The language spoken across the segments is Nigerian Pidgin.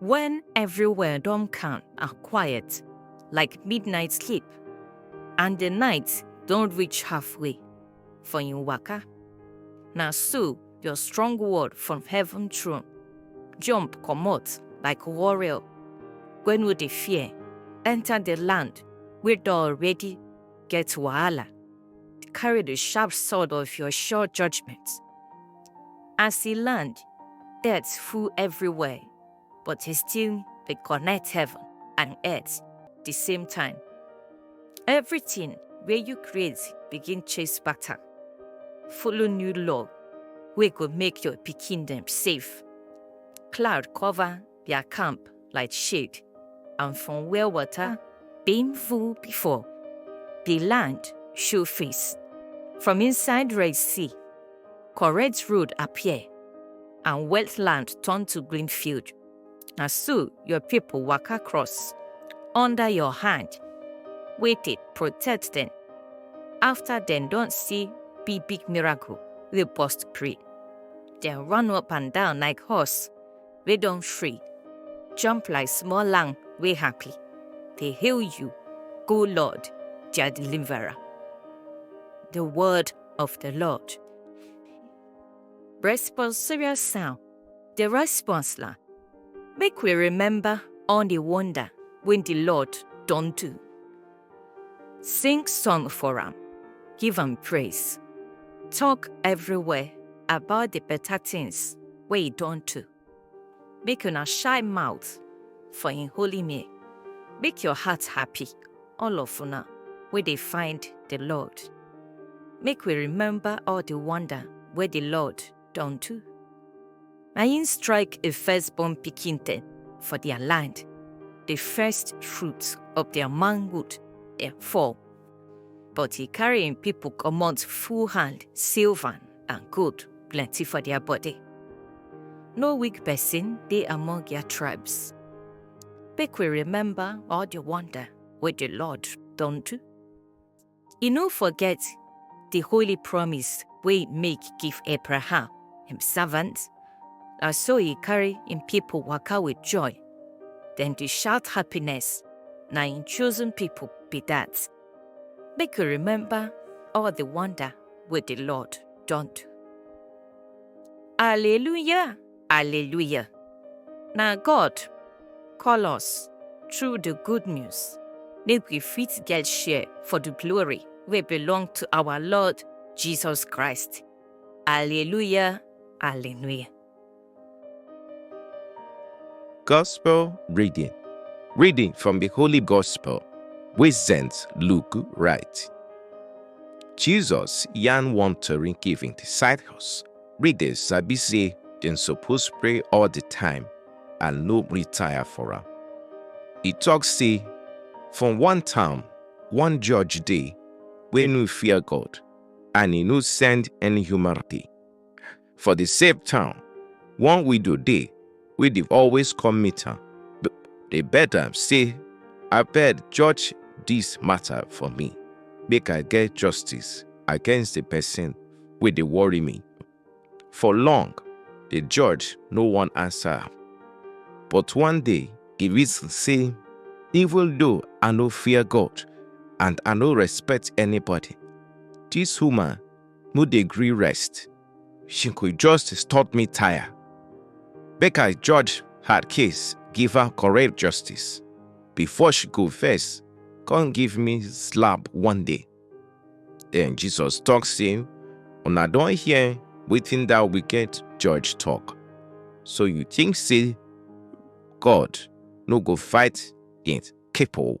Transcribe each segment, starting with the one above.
When everywhere don calm and quiet, like midnight sleep, and the night don reach halfway for im waka, na so your strong word from heaven throne jump comot like warrior wey no dey fear enter the land wey don already get wahala, carry the sharp sword of your sure judgment. As he land, dirt full everywhere, but he still dey connect heaven and earth the same time. Everything wey you create begin chase pattern, follow new law wey go make your pikin dem safe. Cloud cover their camp like shade, and from where water been full before, the land show face. From inside Red Sea, correct road appear, and wetland turn to green field. Na so your people waka cross under your hand, wey dey protect them. After dem don see big big miracle wey burst brain, dem run up and down like horse wey don free, jump like small lamb wey happy, dey hail you, O Lord, their deliverer. The word of the Lord. Responsorial sound. The response la. Make we remember all the wonder when the Lord don do. Sing song for am, give am praise. Talk everywhere about the better things wey he don do. Make una shy mouth for him holy name. Make your heart happy, all of una wey dey find the Lord. Make we remember all the wonder wey the Lord don do. Na im strike a firstborn pikin dem for their land, the first fruits of their manhood dem fall. But he carry im people comot full hand, silver and gold plenty for their body. No weak person dey among their tribes. Make we remember all the wonder wey the Lord don do. E no forget di holy promise wey e make give Abraham, im servant. Na so e carry im pipo waka wit joy, dem dey shout happiness, na im chosen pipo be dat. Make you remember all di wonder wey di Lord don do. Alleluia! Alleluia! Na God call us through the good news make we fit get share for the glory wey belong to our Lord Jesus Christ. Alleluia! Alleluia! Gospel reading. Reading from the Holy Gospel wey St. Luke write. Jesus yarn one tori give im disciples Readers sabi say dem suppose pray all the time and no retire for am. E talk say, For one town, one judge dey wey no fear God and e no send any human dey. For the same town, one widow dey wey dey always come meet am dey beg am say abeg judge dis matter for me make i get justice against the person wey dey worry me for long the judge no wan answer am but one day he reason say even though i no fear god and i no respect anybody dis woman no dey gree rest Shinkwe justice taught me tire. Make I judge her case, give her correct justice. Before she go first, come give me slap one day. Then Jesus talk say, Una don hear wetin that wicked judge talk. So you think say God no go fight against people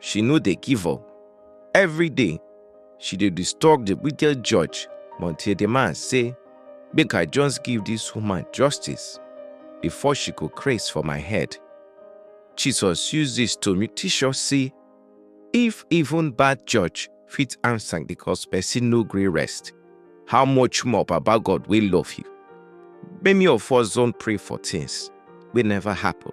she no dey give up. Every day, she dey disturb the wicked judge until the man say, make I just give this woman justice before she go craze for my head. Jesus use this to teach us say, if even bad judge fit answer because person no gree rest, how much more Baba God wey love you? Many of us don pray for things wey never happen.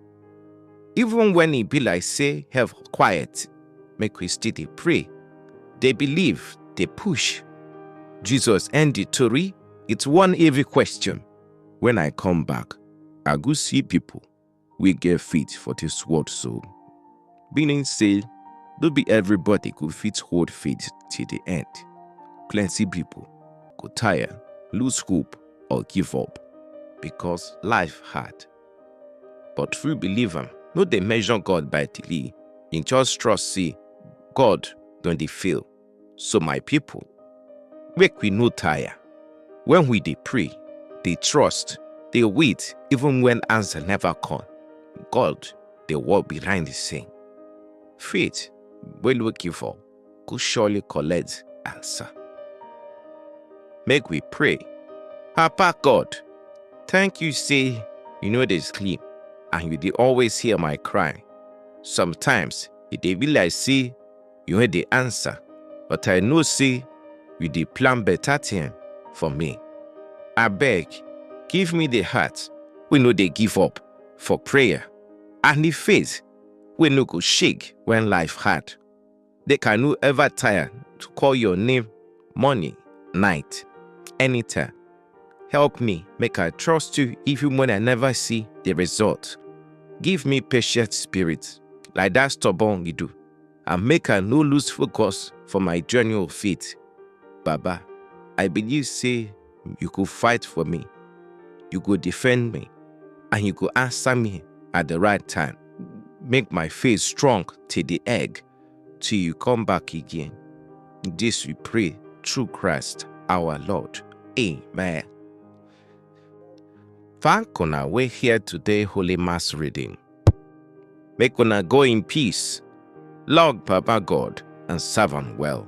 Even when e be like say hell quiet, make we still dey pray, dey believe, dey push. Jesus end the tori with one heavy question. When I come back, I go see people wey get faith for this world so. Meaning say, no be everybody go fit hold faith till the end. Plenty people go tire, lose hope, or give up because life hard. But true believer no dey measure God by delay. He just trust say God don dey fail. So my people, make we no tire. When we dey pray, dey trust, dey wait even when answer never come. God dey work behind the scene. Faith wey no give up. go surely collect answer. Make we pray. Papa God, thank you say you know dey sleep and you dey always hear my cry. Sometimes e dey be like say you no dey answer, but I know say you dey plan better thing for me. Abeg, give me the heart wey no dey give up for prayer and the faith wey no go shake when life hard. They can no ever tire to call your name morning, night, anytime. Help me make I trust you even when I never see the result. Give me patient spirit like that stubborn you do and make I no lose focus for my journey of faith. Baba, I believe say you go fight for me, you go defend me, and you go answer me at the right time. Make my faith strong till the egg, till you come back again. This we pray through Christ our Lord. Amen. Thank una we hear today Holy Mass reading. Make una go in peace, log Papa God, and serve am well.